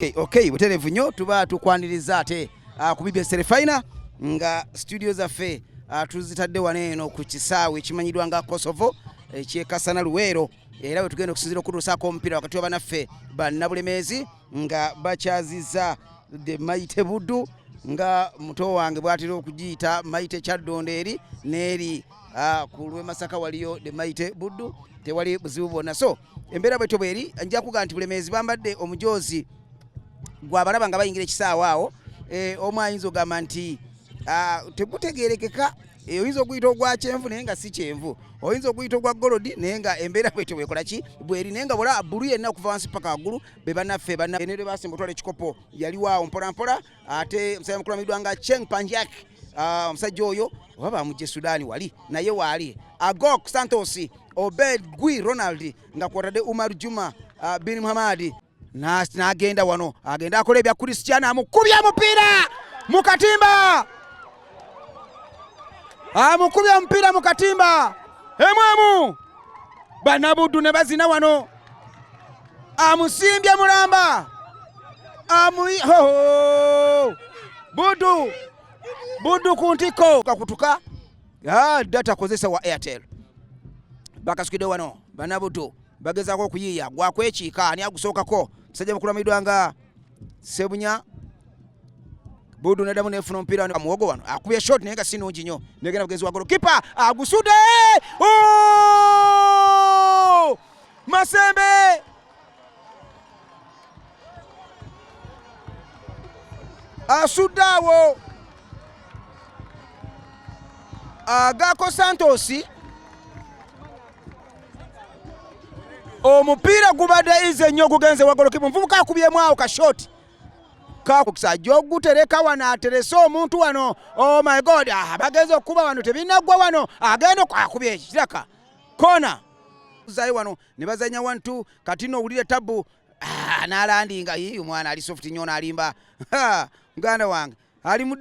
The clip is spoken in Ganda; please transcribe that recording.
Okay, okay, buterevu nyo tuba tukwaniriza ate uh, ku BBS Refiner nga studio zaffe uh, tuzitadde wano eno ku kisaawe ekimanyiddwa nga Kosovo ekyekasana eh, Luweero era bwe tugenda okusinzira okutuusaako omupiira wakati wa banaffe bannabulemeezi nga bakyaziza the Mighty Buddu nga muto wange bwatera okugiyita Mighty Kyaddondo eri n'eri uh, ku lw'e Masaka waliyo the Mighty Buddu tewali buzibu bwonna so embeera bwetyo bweri nja kuga nti bulemeezi bambadde omujoozi gwabalaba nga bayingira ekisaawa awo eh, omu ayinza ogamba nti ah, tegutegerekeka eh, oyinza okuyita ogwa kyenvu naye nga si kyenvu oyinza okuyita ogwa golodi naye nga embeera bwetyo bwekola ki bweri naye nga bola bulu yenna okuva wansi paka waggulu bebanaffe bana ene lwebasimba otwala ekikopo yaliwaawo mpolampola ate omusajja mukulu amidwa nga Cheng Panjak ah, omusajja oyo oba bamujje Sudani wali naye waali Agok Santos Obed Gui Ronald nga kwotadde Umar Juma ah, bin Muhammad n'agenda wano agenda akola ebya Cristiano amukubye omupiira mu katimba amukubye omupiira mu katimba emu emu banabuddu ne bazina wano amusimbye mulamba amuyi hoho buddu buddu ku ntikko kakutuka ah, data kozesa wa airtel bakasukidde wano banabuddu bagezaako okuyiiya gwakwekiika ani agusookako musajja mukulu amidwa nga Sebunya Budu nadamu nefuna omupiira wano muwogo wano akubye shot naye nga si nungi nnyo negenda mugenzi wa golokipa agusude oh! Masembe asudde awo agaako Santos omupiira gubadde izi ennyo ogugenze wagolokipa omuvubuka akubyemu awo kashoti kakukisajja ogutereka wano aterese omuntu wano oh my god ah, bagenze okukuba wano tebinaggwa wano agenda akubye ekiraka kona zayi wano ne bazanya wantu kati nowulire tabu ah, nalandinga omwana ali soft nyo nalimba muganda wange ali